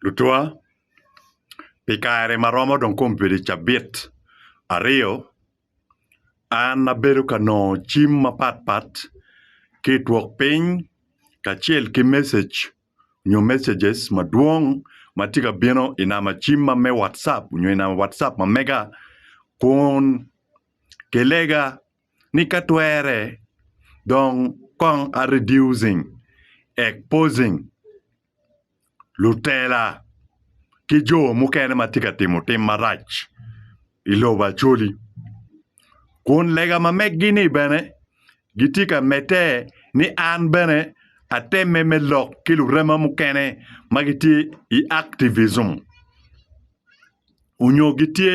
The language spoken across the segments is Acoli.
Lutwa, pi kare ma romo dong kong obedo i cabit aryo, an abedo ka nongo cim mapat pat ki i twok piny kacel ki messeg nyo messages madwong ma tye ka bino i namba cim ma me watcap nyo i namba watcap ma mega kun kilega ni ka twere dong kong a reducing exposing lutela ki jo mukene ma tye ka timo tim marac i lobo Acholi. Kun lega ma megi ni bene gitye ka medde ni an bene atemme me lok ki lurema mukene ma gitye i activism onyo gitye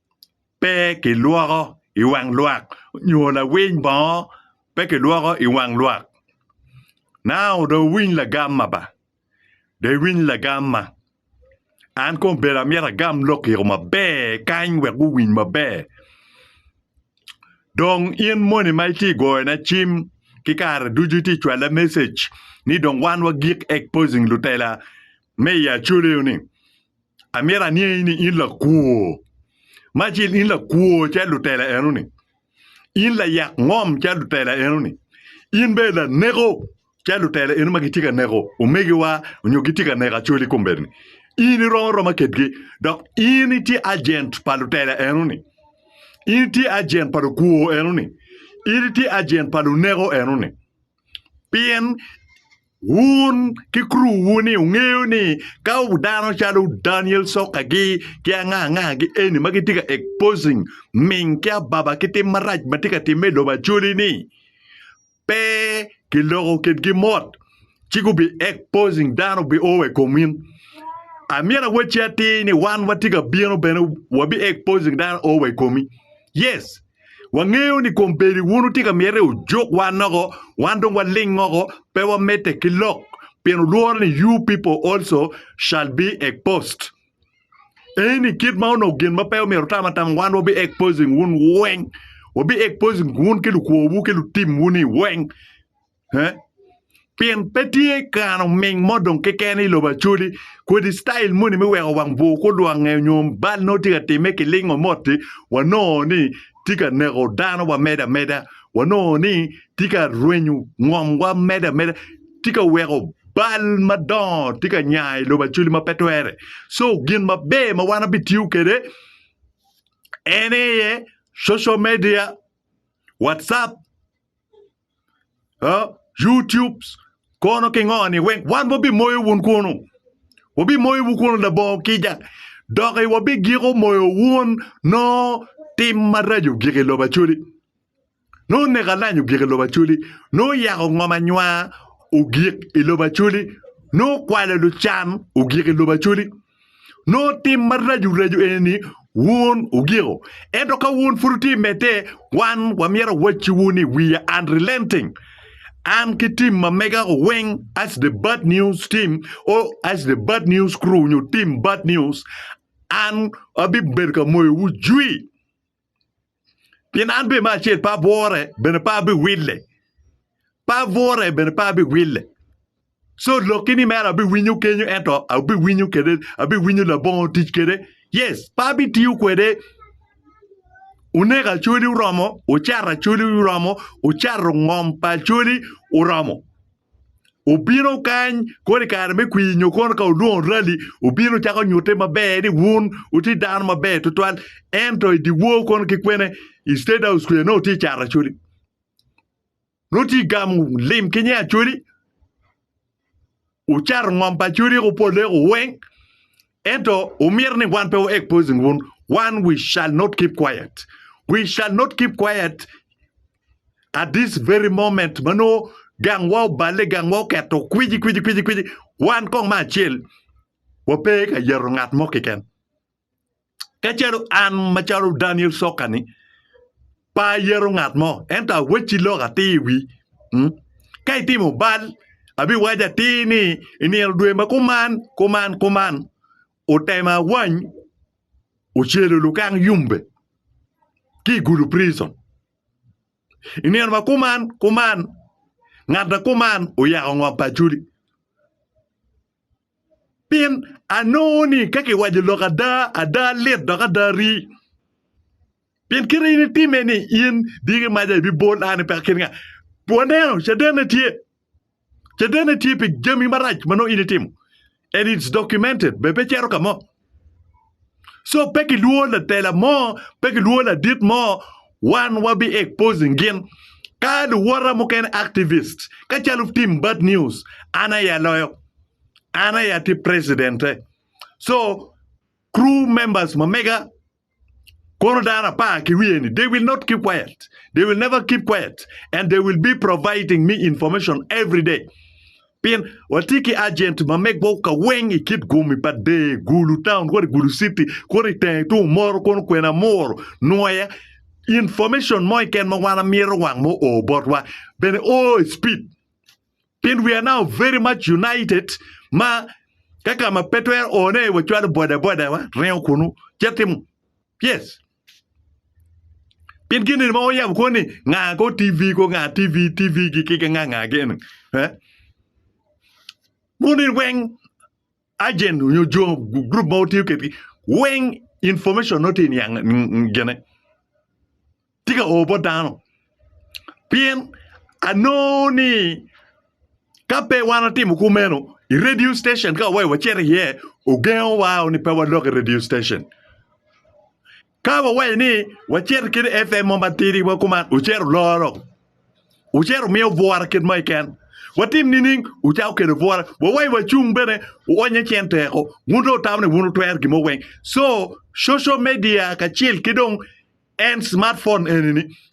pe kilwoko i wang lwak nyo lawiny bongo pe kilwoko i wang lwak. Now dong wuwiny lagamma ba, dong iwiny lagamma. An kong obedo amyero agam lok i kom maber kany wek guwiny maber. Dong in moni ma itye ka goyona cim ki kare ducu itye ka cwalla message ni dong wan wagik exposing lutela me i Acholi-ni. Amyero angeyi ni in lakwor. Me acel in lakwor calo lutela enoni. In layak ngom calo lutela enoni. In bene laneko calo lutela eno ma gitye ka neko omegiwa nyo gitye ka neko acoli i kombeddi-ni. In iromo aroma kedgi dok in itye ajent pa lutela enoni. In itye ajent pa lukwor enoni. In itye ajent pa luneko enoni. Pien Wun ki kuruwu-ni wungeyo ni ka dano calo Daniel Sokagi ki angangagi eni ma gitye ka exposing ming ki ababa ki tim marac ma tye ka timme i lobo Acholi-ni pe kiloko kitgi mot ci gubi exposing dano obi o wa i komin. Amyero awacci atir ni wan watye ka bino bene wabi exposing dano o wa i komi. Yes! Wangeyo ni kom bedo wunu tye ka myete ojuk wa noko, wan dong waling oko, pe wamedde ki lok, pien wulworo ni you people also shall be exposed. Eni kit ma onongo gin ma pe omyero otam atama, wan wabi exposing wun weng, wabi exposing wun ki lukwowu ki lutim wuni weng. Pien pe tye kare oming mo dong keken i lobo Acholi kodi citail moni me weko wang bur kulwangnge nyo bal nongo tye ka timme kilingo mot-ti, wanongo ni tye ka neko dano wa medo ameda, wanongo ni tye ka rwenyo ngomwa medo ameda, tye ka weko bal madongo tye ka nya i lobo Acholi ma pe twere. So gin maber ma wan wabitiyo kwede en aye social media, Whatsapp. YouTube kono ki ngoni wek wan wabimoyo wun kunu wabimoyo wun kunu labongo kica dok wabigiko moyo wun nongo tim maraco ogik i lobo Acholi nongo neko alac ogik i lobo Acholi nongo yako ngom anywar ogik i lobo Acholi nongo kwalo lucan ogik i lobo Acholi. Nongo tim maraco raco eni-ni wun wugiko. Ento ka wun pud wutye i medde, wan wamyero awacci wun ni wiya unrelenting. An ki tim ma mega weng as the bad news team or as the bad news crew nyo team bad news an abibedo ka moyowu jwi. Pien an bene me acel pe abwore, bene pe abiwille. Pe abwore, bene pe abiwille. So lokki ni mere abiwinyo kenyo ento abiwinyo kwede, abiwinyo labongo tic kwede. Yes, pe abitiyo kwede. Oneko Acholi oromo, ocato Acholi oromo, ocato ngom pa Acholi oromo. obino kany kono i kare me kwir nyo kono ka olwongo rali obino cako nyutte maber ni wun wutye dano maber tutwal ento i dyewor kono ki kwene i state house kwija nongo tye cato acholi nongo tye gamo lim ki nge acholi wucato ngom pa acholi woko pole woko weng ento wumito ni wan pe wa exposing wun wan we shall not keep quiet we shall not keep quiet. at this very moment ma nongo gangwa oballe, gangwa oketo kwiji kwiji kwiji kwiji, wan kong ma acel wape ka yeto ngat mo keken. Ka calo an macalo Daniel Sokani pe ayeto ngat mo ento awacci lok atir i wi mm, ka itimo bal abiwaco atir ni i nino dwe ma kuman kuman kuman Otemo awany ocelo lukang yumbe ki i Gulu Prison. I nino ma kuman kuman, ngat ma kuman oyako ngom pa Acholi. Pien anongo ni ka kiwaco lok ada, ada lit dok ada rii. Pien kite in itime ni in diki maca ibibol an ipe akin nga. Waneno, caden-ne tye. Ce dene tye pi jami marac ma nongo in itimo and it's documented be pe cito ka mo. So pe kilwor latela mo, pe kilwor ladit mo, wan wabi exposing gin. Ka luwota mukene activists, ka calo team bad news, an aye aloyo. An aye atye president-e. So crew members ma mega Kono dano apar ki wiye ni, they will not keep quiet. They will never keep quiet and they will be providing me information every day. Pien watye ki agent ma megwa ka weng i kit gomi pa dee, Gulu town, kodi Gulu city, kono i tenge tung moro kono kwene amuro nongo aye information mo iken ma wan amito wang mo o botwa. Bene o i speed. Pien we are now very much united ma ka ka ma pe twero one wacwalo bodaboda wa ringo kunu cit timo yes pien gini ma oyabo ko ni nga ko TV ko nga TV TV gi ki nga nga gini eh munin weng agent nyo jo group ma wutiyo kedgi weng information no tye niang gene tye ka oo bot dano pien anongo ni ka pe wan watimo kumeno i radio station ka waweyo wacito iye ogengo wa ni pe wadok i radio station Ka wawaco ni wacito kit FM mo matidi ma kuman ocito loro, ocito miyo bwora kit mo keken. Watim nining? Ocako kelo bwora. Wawaco wacung bene wonye cen teko. Wun dong wutamo ni wun wutwero gin mo weng. So, social media kacel ki dong en smartphone eni-ni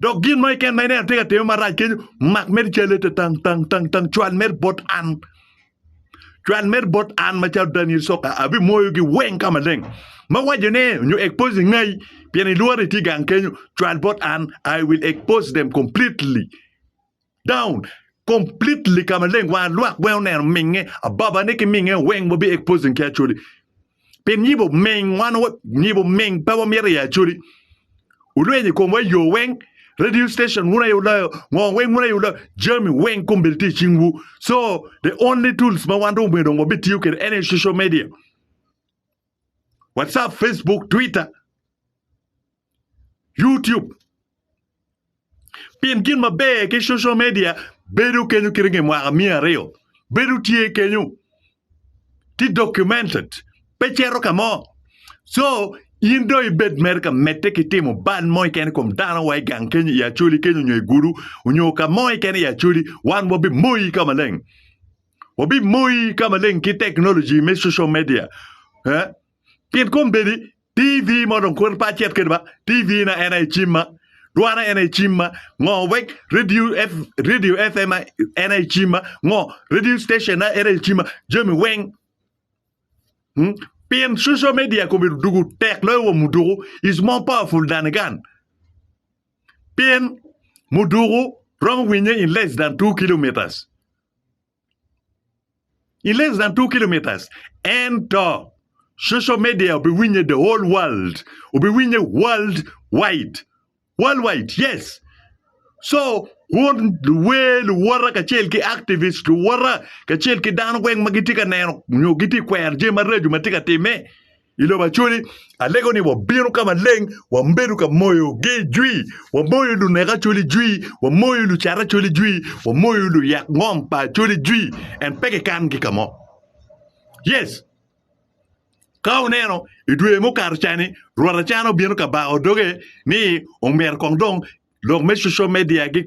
Dok gin mo keken ma ineno atye ka time marac kenyo, mak mere calle te tang tang tang tang cwal mere bot an. Cwal mere bot an macalo Daniel Soka abimoyogi weng ka maleng. Ma waco ne nyo expose ngai pien ilworo itye gang kenyo, cwal bot an I will expose them completely. down completely ka maleng wa lwak weng oneno minge ababa ni ki minge weng wabi exposing ki acholi pin yibo ming wan yibo ming pe wamito i acholi ulweny i komwa yo weng radio station wun aye uloyo ngo weng wun aye uloyo jami weng kombedi tye i cingwu so the only tools ma wan dong omyero dong wabitiyo kwede en aye social media Whatsapp, Facebook, Twitter, YouTube. Pien gin maber ki social media bedo kenyo kite nge mwaka miya aryo. Bedo tye kenyo. Ti documented. Pe cero ka mo. So, in do ibed mere ka mette ki timo ban mo ikene kom dano wa i gang kenyo i acholi kenyo nyo i gudu nyo ka mo ikene i acholi wan wa bi moyi ka maleng. Wabimoyi ka maleng ki teknoloji me social media. Eh? Pien kom bedi TV ma dong kweto pa acet kede ba TV na en aye cim ma dwa na en aye cim ma ngo wek radio F, radio FM na en aye cim ma ngo radio station na en aye cim ma jami weng. Hmm? Pien social media komedo dugu tek loyo wa muduku is more powerful than a gun. pien muduku romo winye in less than two kilometres in less than two kilometres ento social media obiwinye the whole world obiwinye world wide world wide yes so wun luwer luwota kacel ki activist luwota kacel ki dano weng ma gitye ka neno nyo gitye ka kwero jami maraco ma tye ka timme I lobo Acoli, alego ni wabino ka maleng, wabedo ka moyogi jwi, wamoyo lunek Acoli jwi, wamoyo lucat Acoli jwi, wamoyo luyak ngom pa Acoli jwi, en pe kikan-gi ka mo. Yes, ka wuneno i dwe mukato cani, rwot acan obino ka bako doge ni omyero kong dong lok me coco media gik